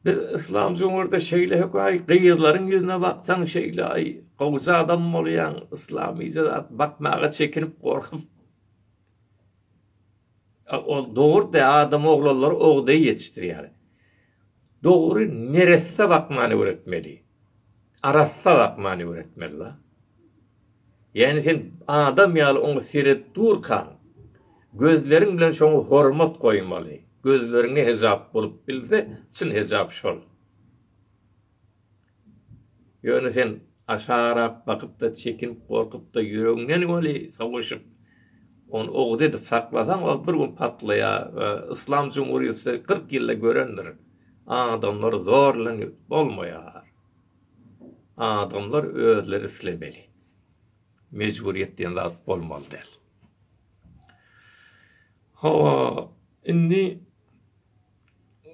Biz yslam jumurda şeýle höküay gyzlaryň ýüzüne baksaň şeýle aý gowja adam bolýaň yslamyja zat bakmaga çekinip gorkup. Ol dogurdy adam oglanlary ogday ýetişdirýär. Dogry neresse bakmany öwretmeli. Arassa bakmany öwretmeli la. Ýani sen adam ýaly oňa seredip durkaň gözleriň bilen şoňa hormat goýmaly. Gözleriňe hejap bolup bilse çyn hejap şol. Ýöne sen aşarap bakyp-da, çekinip, gorkup-da ýüregiňden weli soguşyp, ony owuz edip saklasaň, ol bir gün patlaýar we Yslam jumhuriýeti kyrk ýylda görendir, adamlar zorlanyp bolmaýar. Adamlar özleri islemeli. Mejburyýet diýen zat bolmaly däl. Hawa, indi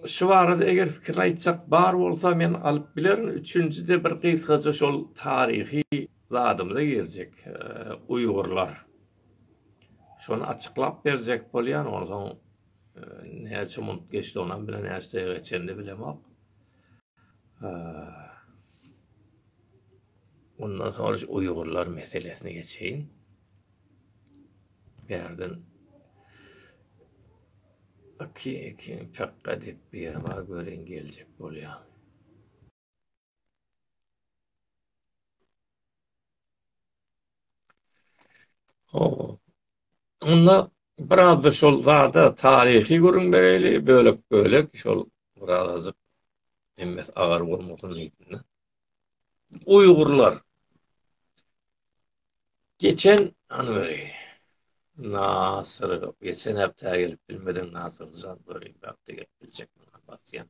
Şu barada eger pikirini aýtjak bar bolsa men alyp bilerin, üçünjide bir gysgaja şol taryhy zadymyza girjek, uýgurlar. Şony açyklap berjek bolýan, onsoň näçe munt geçdiginam bilen näçe daýga geçenini bilemok. Ondan soň şu uýgurlar meselesini geçeýin. Bärden Aki eki pekga dep beri bar göreýin geljek bolýamy. Hoo. Onda biraz da şol zada taryhy gürrüň bereýli bölek bölek şol biraz azyk emmes agar bolmasyn diýdim-de. Uýgurlar geçen an beri Nasyr geçen hepde gelip bilmedin Nasyr zat beri hepde gelip biljek bana basyan.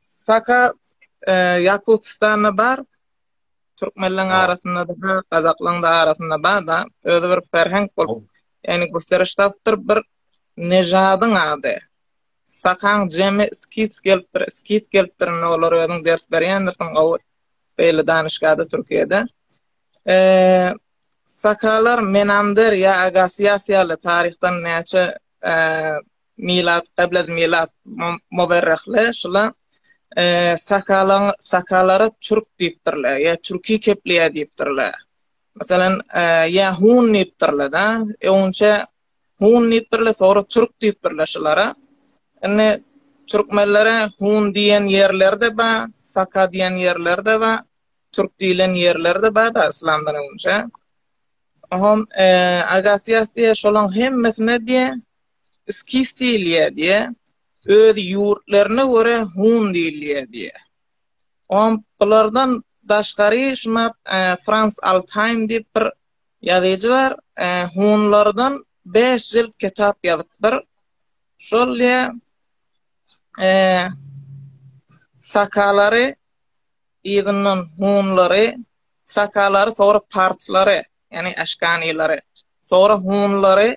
Saka Ýakutystanda bar, türkmenleriň arasynda-da, gazaklaryň arasynda bar-da, özi bir ferheng bolup, ýagny gösteriş tapypdyr, bir nežadyň ady. Sakaň jemi skits gelipdir, skit gelipdir, indi olar özüň ders berýändirsiň gowy beýle danyşgada Türkiýede. Sakalar Menander ýa Agasiýas ýaly taryhdan näçe Milad, Gablez Milad, Mowerrehli, şula Sakalaň, Sakalara Türk diýipdirler, ýa Türki Kepliýa diýipdirler. Meselem, ýa Hun diýipdirler-da, öňçe Hun diýipdirler, soňra Türk diýipdirler şulara. Indi türkmenlere Hun diýen ýerleri-de bar, Saka diýen ýerleri-de bar, Türk diýlen ýerleri-de bar-da yslamdan öňçe. Oňa Agasiýas diýýär, şolaň hemmesine diýýär. Skis diýilýär diýýär. Öz ýurtlaryna görä Hun diýilýär diýýär. Oň bulardan daşgary şumat Frans Altaým diýip bir ýazyjy bar. Hunlardan bäş jilt kitap ýazypdyr. Şol diýýär, Sakalary yzyndan Hunlary, Sakalary soňra Parslary, ýagny Aşkanilary, soňra Hunlary,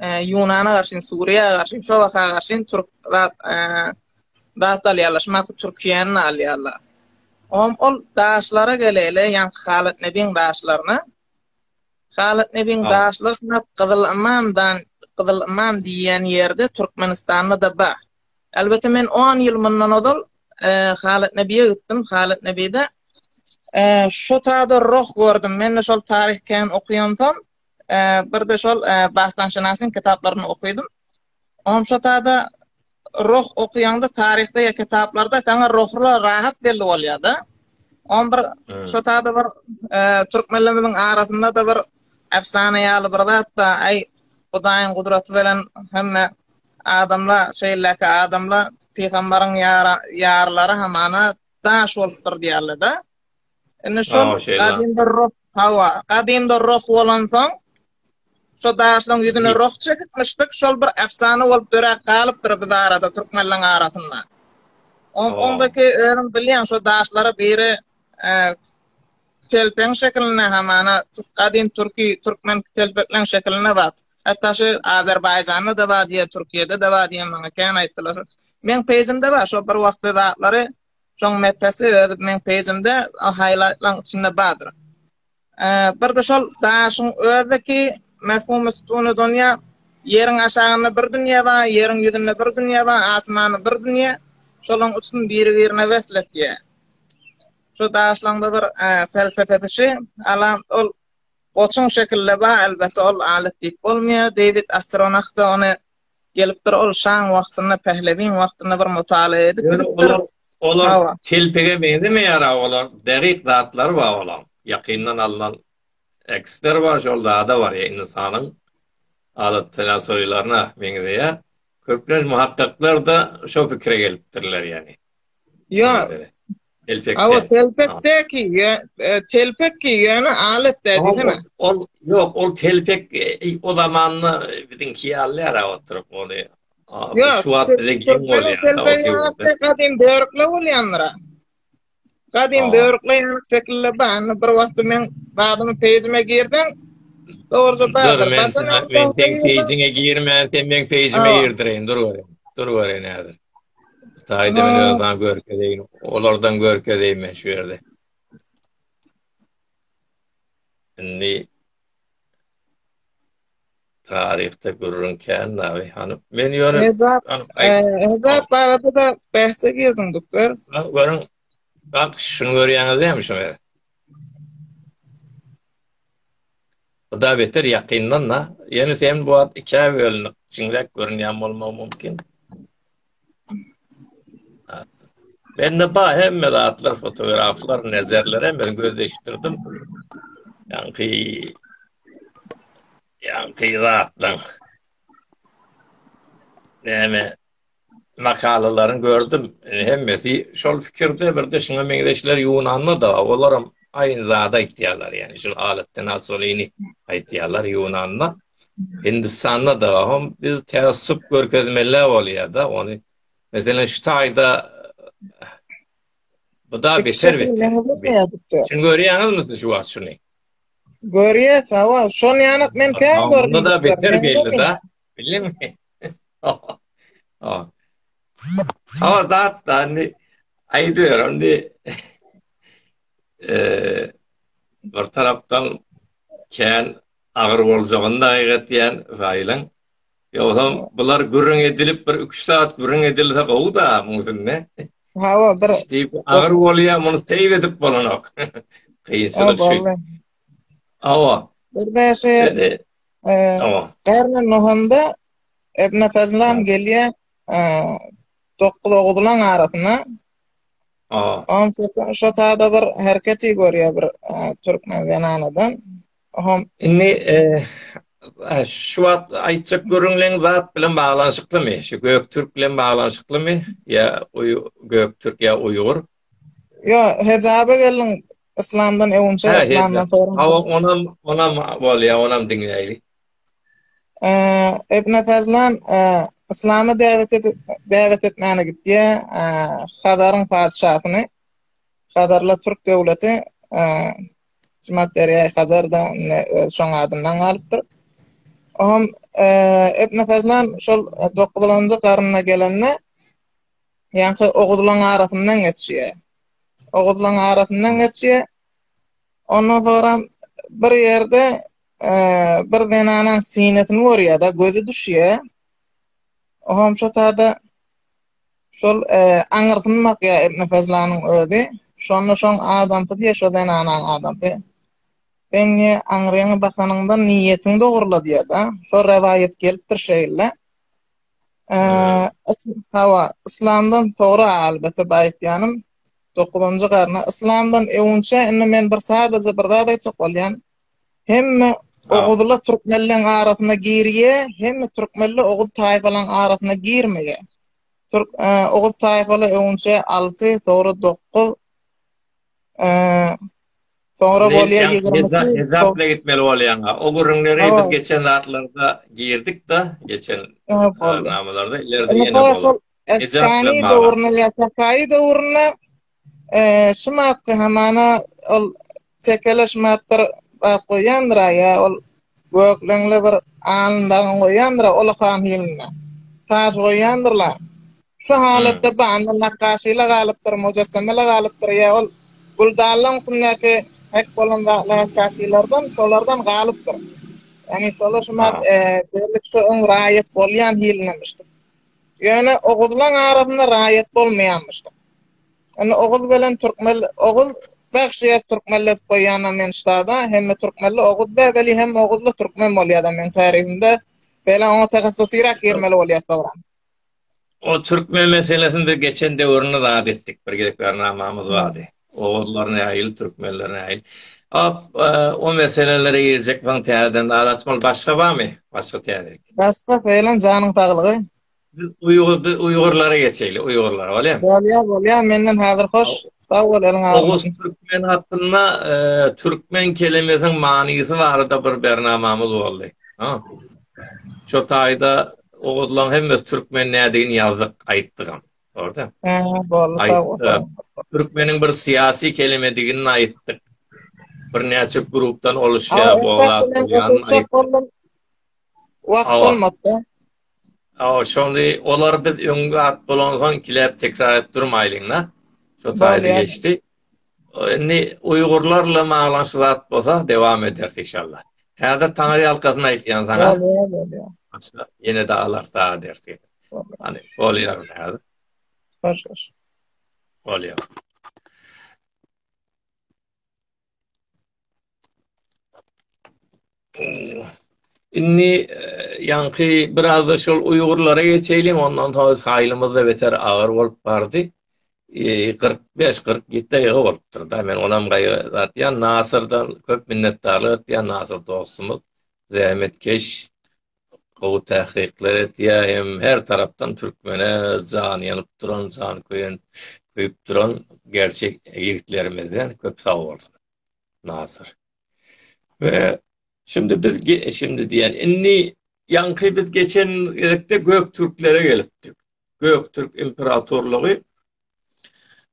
Ýunana garşy, Suriýa garşy, şu waka garşy türk zat zat alýarlar. Şuna Türkiýäni alýarlar. Om ol daşlara geleli, ýan Halat Nebin daşlaryna. Halat Nebin daşlar şuna Gyzyl Imandan, Gyzyl Iman diýen ýerde Türkmenistanda da bar. Elbetde men 10 ýyl mundan ozal Halat Nebiýe gitdim. Halat Nebiýde şu taýda roh gördüm. Men şol taryh kän okýansam, Birde şol Basdanşynasyň kitaplaryny okydym. Onam şo tada roh okuýanda taryhda ya kitaplarda sana rohla rahat belli bolýar da. On bir şo tada bir türkmenlerimiziň arasynda da bir efsane ýaly bir zat da ay Hudaýyň gudraty bilen hemme adamla şeýleki adamla pygamberiň ýarlary hamana daş bolupdyr diýerler da. Indi şu gadymda roh, hawa, gadymda roh bolansoň, şu daşlaryň ýüzüne roh çekipmişdik, şol bir efsana bolup döräp galypdyr biz arada, türkmenleriň arasynda. On, ondaki özüm bilýän, şu daşlara biri e, telpeň şeklinde hamana, gadym türki, türkmen telpekleň şeklinde bar. Hatta şu Azerbaycan'da da var diye, Türkiye'de de var diye bana kän aýtdylar. Men pejimde bar, şu bir wagtda zatlary Şoň mepesi öz meň pejimde haýlaýtlaň içinde bardyr. Birde şol daşyň özdeki mefhumy sütunu donýa ýeriň aşagynda bir dünýe bar, ýeriň ýüzünde bir dünýe bar, asmany bir dünýe, şolaň üçüsini biri birine wesl etýä. Şo daşlaňda bir felsefesi şi, alam ol goçuň şekilde bar, elbete ol alat diýip bolmaýa, Deýwid Astronahta ony Gelip dur ol şaň wagtynda pählebiň wagtynda bir mutala edip gidip dur. Olar kelpege meňzemeýär a olar derik zatlar bar olar ýakyndan alnan eksler bar şol zada bar ýa insanyň allotenasorilaryna meňzeýär köplenç muhakkaklar da şo pikire gelipdirler ýani. Ýok. Awa telpekdeki telpek giýýän alatda diýsene. Ol ýok, ol telpek e, o zamanda biziňki ýalylar oturyp ony. Ýok, şu wagt bize giň bolýar. Telpek gadym börükle bolýandyr. Gadym börükle şekilde bany bir wagt men babyň peýjime girdim. Dogruça bardyr. Başga men peýjiňe girmän, sen meň peýjime girdirin, dur görün. Dur görün häzir. Hytaýda men özüme görkezeýin. Olardan görkezeýin men şu ýerde. Indi taryhda gürrüň kän nawi hany men ýöne Hezap barada da bähse girdim doktor. Görüň. Bak şunu görýäňiz näme şu ýerde? Huda beter ýakyndan-da. Ýöne sen bu wagt ikä bölünip, kiçiňräk görünýän bolmagy mümkin. Mende bar hemme zatlar, fotograflar, nezerler hem men gözleşdirdim. Ýaňky ýaňky zatlaň. Näme? makalalaryň gördüm. E, hemmesi şol pikirde bir de şuňa meňzeşler Ýunanda da olar hem aýyn zat aýtýarlar. Ýani şol alatdan asolyny aýtýarlar Ýunanda. Hindistanda da hem biz tässup görkezmeli bolýar da ony. Meselem şu taýda bu da beter beter. Şuny görýäňizmi şu wagt şuny? Görýä, sawa. Şony ýanyk men täze gördüm. Bunda da beter geldi da. Bildim. Oh. Ama dat da indi aýdyr indi. Eee bir tarapdan kän agyr boljagyny da aýgatýan Faýylyň. Ýogsam bular gürrüň edilip bir 3 saat gürrüň edilse gowy da muň üstünde. Hawa bir. Agyr bolýa muny seýredip bolanok. Kynçylyk şu. Awa. Bir bäşe Awa. Garna nohanda Ebna Fazlan gelýä 9 ogulan arasyna. Awa. On çekin şu taýda bir herketi görýä bir türkmen zenanadan. Hom. Indi şu wagt aýtjak görüňleň zat bilen baglanyşyklymy? Şu Göktürk bilen baglanyşyklymy? Ýa Göktürk ýa Uýgur? Ýo, hejaba gelin yslamdan öwünçä yslamdan soraň. Hawa, onam, onam bolýa, onam diňläýli. Ibn Fazlan yslama däwet edip, däwet etmäne gitýä, Hazaryň patyşasyny, Hazarla türk döwleti, Jumat derýaýy Hazarda öz şoň adyndan galypdyr. Oňam Ibn Fazlan şol dokuzulynjy garynda gelende, Ýaňky oguzlaň arasyndan geçýär. Oguzlaň arasyndan geçýär. Ondan sonra bir ýerde bir zenanaň sinesini görýär-de, gözi düşýär. Oňam şo taýda şol aňyrsyny bakýar Ibn Fazlanyň özi. Şonda şoň adamsy diýýär, şo zenanaň adamsy. Sen niýe aňryňy bakanyňda niýetiňi dogrula diýýär-de. Şo rowaýat gelipdir şeýle. Hawa, yslamdan soňra albatta baýtýanym. Dokuzynjy garna yslamdan öwünçä indi men bir sadajy bir zat aýtjak bolýan. Hemme oguzla türkmenleň arasyna girýä, hemme türkmenle oguz taýfalaň arasyna girmeýä. Türk oguz taýfala öwünçä alty, soňra dokuz Soňra bolýa 20-si. Ezap bilen gitmeli bolýaňa. O gürrüňleri biz geçen zatlarda girdik-de, geçen namalarda ileride ýene bolar. Esgani döwründe ýa Sakaýy döwründe şu maddy hamana ol tekele şu maddyr goýýandyr-aý ýa ol Gökleňli bir alyndagyň goýandyr-a olakan hilinde. Taş goýýandyrlar. Şu halatda banda nakgaşy-la galypdyr, mujassama-la galypdyr ýa ol güldallaň üstündäki hek bolan zatlar hekgakylardan, şolardan galypdyr. Ýagny şolar şumat bellik şu öň raýat bolýan hilindemişdir. Ýöne oguzlaň arasynda raýat bolmaýanmyşdyr. Ony Oguz bilen Türkmel Oguz Bagşyýaz Türkmellezip goýýana men ştada hemme Türkmelli Oguz dä weli hem Oguzly Türkmen bolýada men taryhymda bela oňa tahassusyrak girmeli bolýa soňra. O Türkmen meselesini biz geçen döwründe zat etdik bir gezek bernamamyz bardy. Oguzlar nähili Türkmenler nähili. Ap o meselelere girjek soň täzeden zat açmaly başga barmy? Başga täze. Başga felan janyň saglygy. Uýgurlara geçeýli, uýgurlara, bolýa? Bolýa, bolýa, menden häzir hoş. Sag bol, eliň agyrmasyn. Oguz türkmen hakynda, e, türkmen kelimesiniň manysy barada bir bernamamyz boldy. Ha. Şo taýda oguzlaryň hemmesi türkmen nädigini ýazdyk, aýtdygam. Orda. Ha, boldy, sag bol. Türkmeniň bir syýasy kelimedigini aýtdyk. Bir näçe grupdan oluşýar, bolýar. Wagt bolmasa. Awa, şonda olar biz öň wagt bolansoň kiläp tekrar edip durmaýlyň-da. Şo taýda geçdi. Indi uýgurlarla maglanyşy zat bolsa dowam ederis inşallah. Häzir taňry ýalkasyn aýtýan saňa. Ýene de alar saga dersi. Hany, bolýar häzir. Hoş, hoş. Bolýar. Indi ýaňky biraz-da şol uýgurlara geçeýliň, ondan soň saýlymyz-da beter agyr bolup bardy. 45-47 daýga bolupdyr-da, men onam gaýgy-atýan, Nasyrdan köp minnetdarlyk etýän, Nasyr dostumyz, zähmetkeş, gowy tähkyklar etýär hem her tarapdan türkmene jany ýanyp duran jany köýen köýüp duran gerçek ýigitlerimizden köp sag bolsun Nasyr we şindi biz şindi diýen indi ýaňky biz geçen gezekde göktürklere gelipdik göktürk imperatorlygy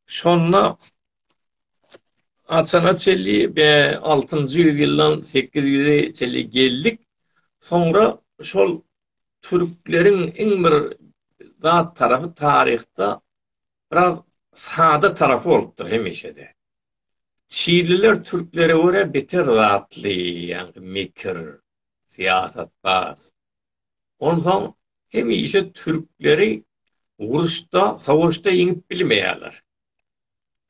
şonda Açana çelli be 6-njy ýüzýyldan 800-e çelli geldik. Soňra şol türkleriň iň bir zat tarapy taryhda biraz sada tarapy bolupdyr hemişe-de. Çinliler türklere görä beter zatly, ýagny mekir, syýasatbaz. Onsoň hemişe türkleri uruşda, sowaşda ýeňip bilmeýärler.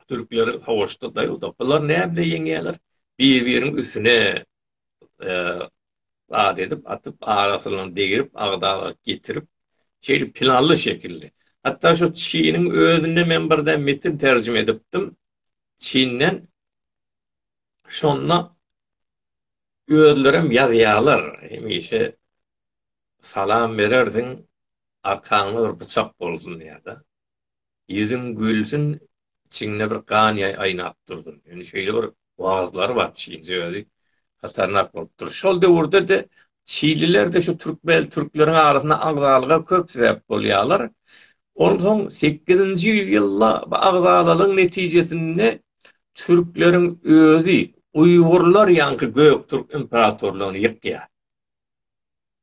Türkler savaşda daýawda. Bular näme bilen ýeňýärler? Bir-biriň üstüne zat edip, atyp, arasyny degirip, agdaga getirip, şeýle planly şekilli. Hatda şu Çiniň özünde men birde metin terjime edipdim. Çinden şonda özlerem ýazýarlar. Hemişe salam berersiň, arkaňda bir bıçak bolsun diýýärdi. Ýüzüň gülsün içiňde bir gan ýaý aýnap dursyn. Indi şeýle bir wagyzlary bar çilje özi hatarnak bolup dur. Şol döwürde-de çililerde şu türkmen türkleriň arasynda agzalyga köp sebäp bolýarlar. Onsoň sekizinji ýüz ýylda bu agzalalygyň netijesinde türkleriň özi uýgurlar ýaňky göktürk imperatorlygyny ýykýar.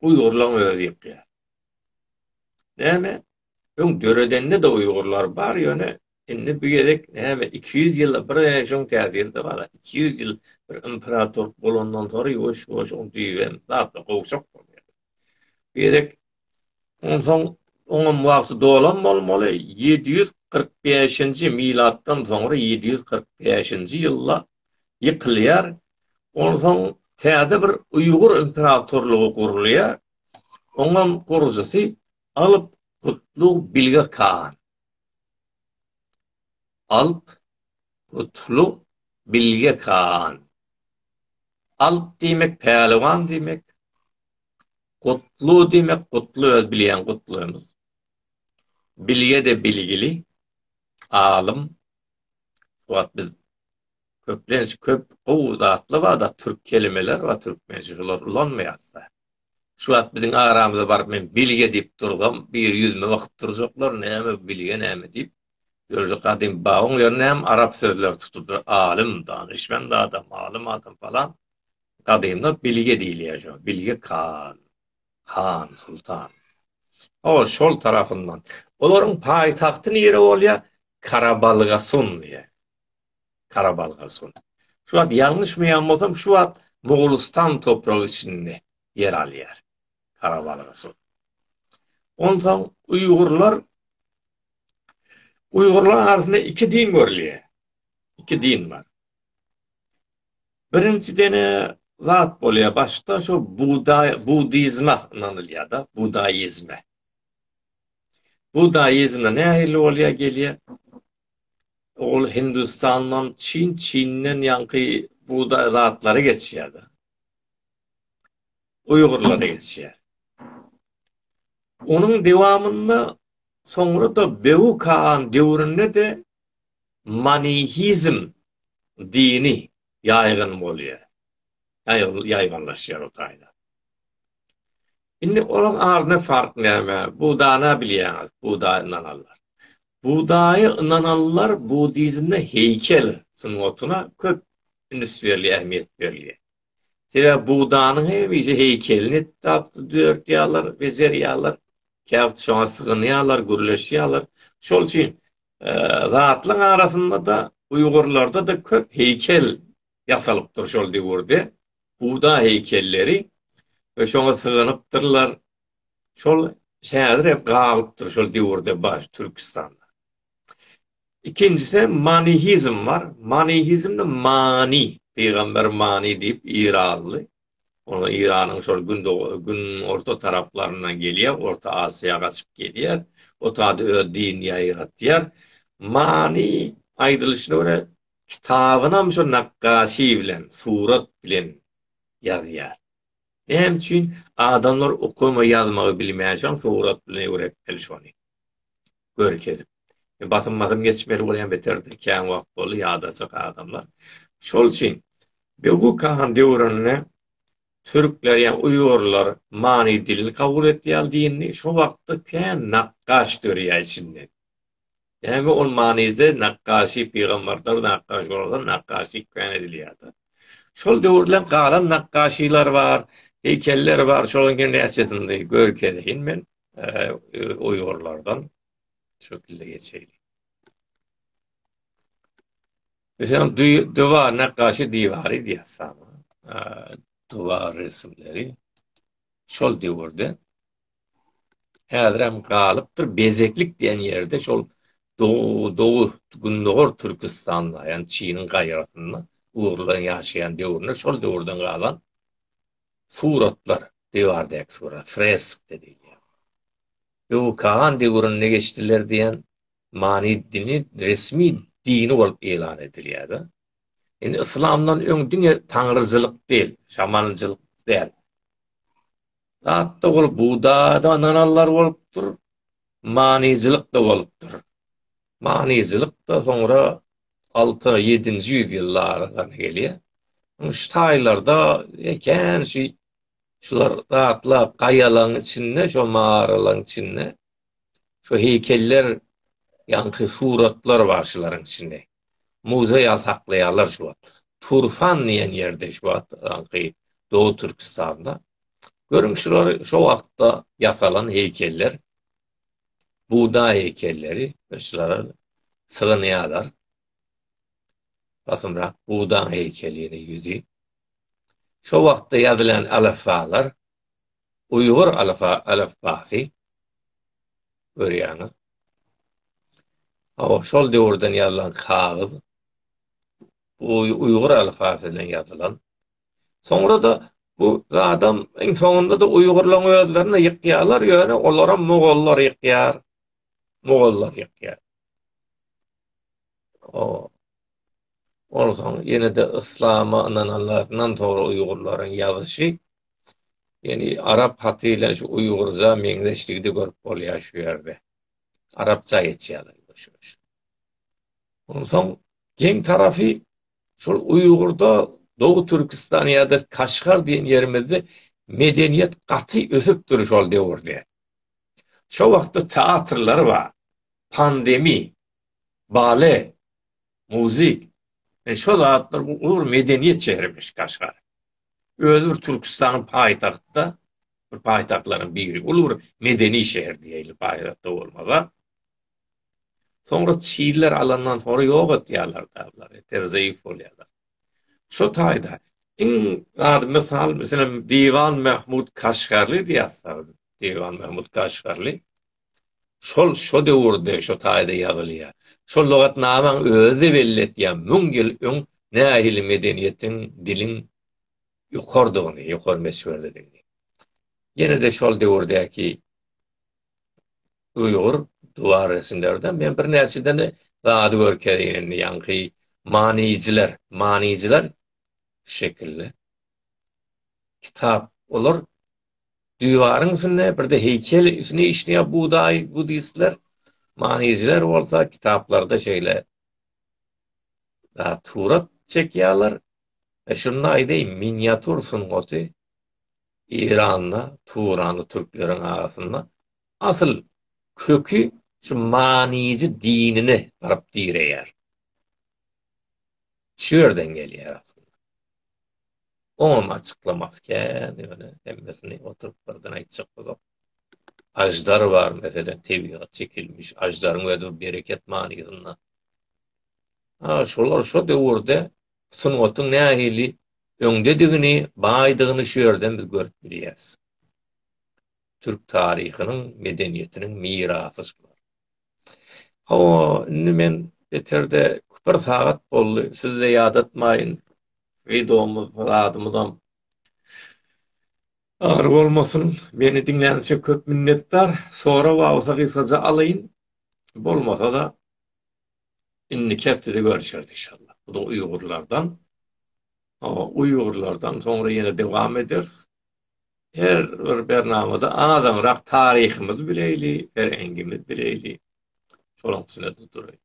Uýgurlaň özi ýykýar. Näme? Öň döredende-de uýgurlar bar, ýöne indi bu gezek näme iki ýüz ýyla bir režim täsirde galar. Iki ýüz ýyl bir imperatorlyk bolandan soň ýuwaş-ýuwaş oň düýbi hem zatla gowşak bolýar. Bu gezek onsoň oňam wagty dolan bolmaly, ýedi ýüz kyrk bäşinji milatdan soňra ýedi ýüz kyrk bäşinji ýylda ýykylýar. Onsoň täze bir uýgur imperatorlygy gurulýar. Oňam gurujysy Alp Kutlug Bilge Khan Alp Kutlug Bilge Khan Alp diýmek Päliwan diýmek Kutlu diýmek Kutlu öz bilýän Kutlumyz Bilge-de bilgili alym Wagt biz köplenç köp gowy zatlar barda türk kelimeler bar türkmençe şolar ulanmaýasda. Şu wagt biziň aramyza baryp men bilge diýip dursam biri ýüzüme bakyp durjaklar näme bu bilge näme diýip. Görje gadym babyň ýerine hem arap sözleri tutuldy alym danyşmand adam alym adam falan gadymda bilge diýilýär şo bilge kan han sultan hol şol tarapyndan olaryň paýtagty nire bolýar karabalgasun diýe Karabalga son. Şu wagt ýalňyşmaýan bolsam, şu wagt Mogulistan topragy içinde ýer alýar. Karabalga son. Ondan uýgurlar uýgurlar arasynda iki din görülýär. Iki din bar. Birinji dene zat bolýar başda şu buday budizme ynanylýar-da, budaizme. Budaizme nähili bolýar gelýär? Ol Hindistandan Çin, Çinden ýaňky bugdaý zatlary geçýär-de. Uýgurlary geçýär. Onuň dewamynda soňra-da Bewu Kagan döwründe-de manihizm dini ýaýgyn bolýar. Ýaýgynlaşýar o taýda. Indi olaň arasynda fark näme? Budaýy-na bilýäňiz, budaýa ynananlar. Budaýa ynananlar budizmde heýkel sungatyna köp üns berilýär, ähmiýet berilýär. Sebäbi budanyň hemişe heýkelini tapda döretýärler, bejerýärler, käwagt şoňa sygynýarlar, gürleşýärler. Şol üçin zatlaryň arasynda-da, uýgurlarda-da köp heýkel ýasalypdyr şol döwürde Buda heýkelleri we şoňa sygynypdyrlar. Şol häzir hem galypdyr şol döwürde bar Türkistanda. Ikinjisi manihizm bar. Manihizmde mani, pygamber mani diýip iranly. Ony Iranyň şol gün orta taraplaryndan gelýär, Orta Aziýa gaçyp gelýär. Otady öz dinini ýaýratýar. Mani aýdylyşyna görä Kitabynam şo nakgaşy bilen, surat bilen ýazýar. Näme üçin? Adamlar okamagy, ýazmagy bilmän şol surat bilen öwretmeli şony. Görkezip. Basym basym geçmeli bolýan beterdir. Kän wagt boldy ýadajak adamlar. Şol üçin Begu Kahan döwründe türkler ýa uýgurlar many dilini kabul etdi ýaly dini. Şo wagtda kän nakgaş dörýär içinden. Näme ol manyda nakgaşy pygambarlar nakgaş bolardan nakgaşy kän edilýärdi. Şol döwürden galan nakgaşylar bar, heýkeller bar, şolaryň hem näçesini görkezeýin men uýgurlardan şekilde geçeýin. Meselem, duwa nakgaşy diwary diýýär. Duwa resimleri şol döwürde Häzirem galypdyr Bezeklik diýen ýerde şol dow-dow gündogar Türküstanda, ýagny Çiniň gaýrasynda ugurlaryň ýaşaýan döwründe şol döwürden galan suratlar, diwardäki surat, fresk diýilýär. Öňi Kaan döwründe geçdiler diýen many dini resmi dini bolup ýylan edilýär-de. Indi yslamdan öň diňe taňryjylyk däl, şamanjylyk däl. Zatda ol bugdada ynananlar bolupdyr, manyjylyk da bolupdyr. Manyjylyk da soňra alty, ýedinji ýüz ýyllara gany gelýär. Şu taýlarda ekän şu şular zatlap gaýalaň içinde, şo maralaň içinde şu heýkeller ýaňky suratlar bar şularyň içinde. Muzeý ýaly saklaýarlar şu wagt. Turfan diýen ýerde şu wagtky Doly Türkistanda. Görüň şular şo wagtda ýasalan heýkeller. Buda heýkelleri şulara sygynýarlar. Basymrak buda heýkelini ýüzi. Şo wagtda ýazylan alafbalar uýgur alifbasy, görýäňiz. Hawa, şol döwürden ýazylan kagyz, uýgur alifbasy bilen ýazylan. Soňra-da bu zadam iň soňunda-da uýgurlaryň özlerini ýykýarlar, ýöne olary mogollar ýykýar. Mogollar ýykýar. O, Onsoň ýene-de yslama ynananlaryndan soňra uýgurlaryň ýazyşy, ýani arap haty bilen şu uýgurja meňzeşligi-de görüp bolýar şu ýerde. Arapça geçýärler ýuwaş-ýuwaş. Onsoň geň tarapy şol uýgurda Dogu Türküstan ýa-da Kaşgar diýen ýerimizde medeniýet gaty ösüpdir şol döwürde. Şo wagtda teatrlar bar. Pandemi bale, muzyk, ine şo zatlar bu uly bir medeniýet şehrimiş Kaşgar. Özi bir Türkistanyň paýtagtda, bir paýtagtlaryň biri, uly bir medeni şehir diýeli paýtagtda bolmaga. Soňra çiller alandan soňra ýok etýärler da bulary, ter zeýif bolýarlar. Şo taýda iň ady mysal, meselem, Diwan Mahmud Kaşgarly diýýär, Diwan Mahmud Kaşgarly. Şol şo döwürde şo taýda ýazylýar. Şo lugatnamaň özi-de belli etýär müň ýyl öň nähili medeniýetiň, diliň ýokarydygyny, ýokary meswerdedigini. Ýene-de şol döwürdäki uýgur duwar resimlerden men birnäçeden zady görkezeýin indi ýaňky manyjylar, manyjylar şu şekilli. Kitap olar Diwaryň üstünde birde heýkel üstüne işleýär budaý budistler. Manyjylar bolsa kitaplarda şeýle surat çekýärler. E şunda aýdaýyn, miniatur sungaty Eýranda, Turanda türkleriň arasynda asyl köki şu manyjy dinine baryp direýär. Şu ýerden gelýär aslynda. Oňam açyklamasy kän, ýöne hemmesini oturyp birden aýtjak bolsak, aždar bar, meselem, tebigat çekilmiş aždaryň özi bereket manysynda. Ha, şolar şo döwürde sungatyň nähili öňdedigini, baýdygyny şu ýerden biz görüp bilýäris. Türk taryhynyň, medeniýetiniň mirasy şular. Hawa, indi men beterde bir sagat boldy, siz-de ýadatmaýyn, wideomyz, zadymyzam ar bolmasyn. Meni diňläniň üçin köp minnetdar. Sorag bar bolsa gysgaja alaýyn. Bolmasa-da, indiki hepdede görüşeris inşallah. Bu da uýgurlardan. Hawa, uýgurlardan soňra ýene dowam ederis. her bir bernamada azaňrak taryhymyzy bileýli, pereňgimizi bileýli. Şolaň üstüne durduraýyn.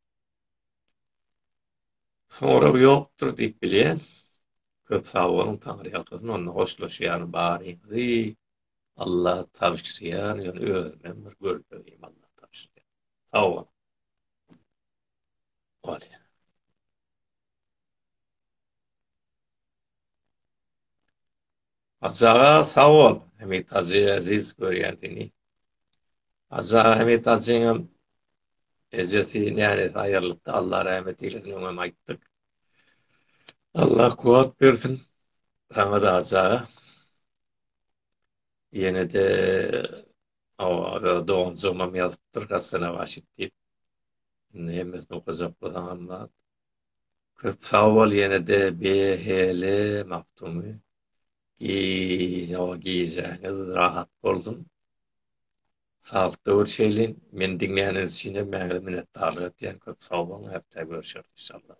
Sorag ýokdur diýip bilýän. Köp sag boluň, Taňry ýalkasyn. Onda hoşlaşýan baryňyzy Allah tabşyrýar, ýöne özüm hem bir görüp bilmeýin Allah tabşyrýar. Sag boluň. Bolýar. Hajy aga sag bol Hemit hajy eziz görýän seni. Hajy aga Hemit hajyňam ejesi nänesi aýyrlypdy Allah rahmet eylesin öňem aýtdyk. Allah kuwat bersin saňa da hajy aga. Ýene de doganjygymam ýazypdyr Hasana Başit diýip. Indi hemmesini okajak bolsaňam Köp sag bol ýenede BHL Magtumy gijaa gijäňiz rahat bolsun saglykda görşeýliň meni diňläniňiz üçinem mäňle minnetdarlyk etýän köp sag boluň hepdä görşeris inşallah.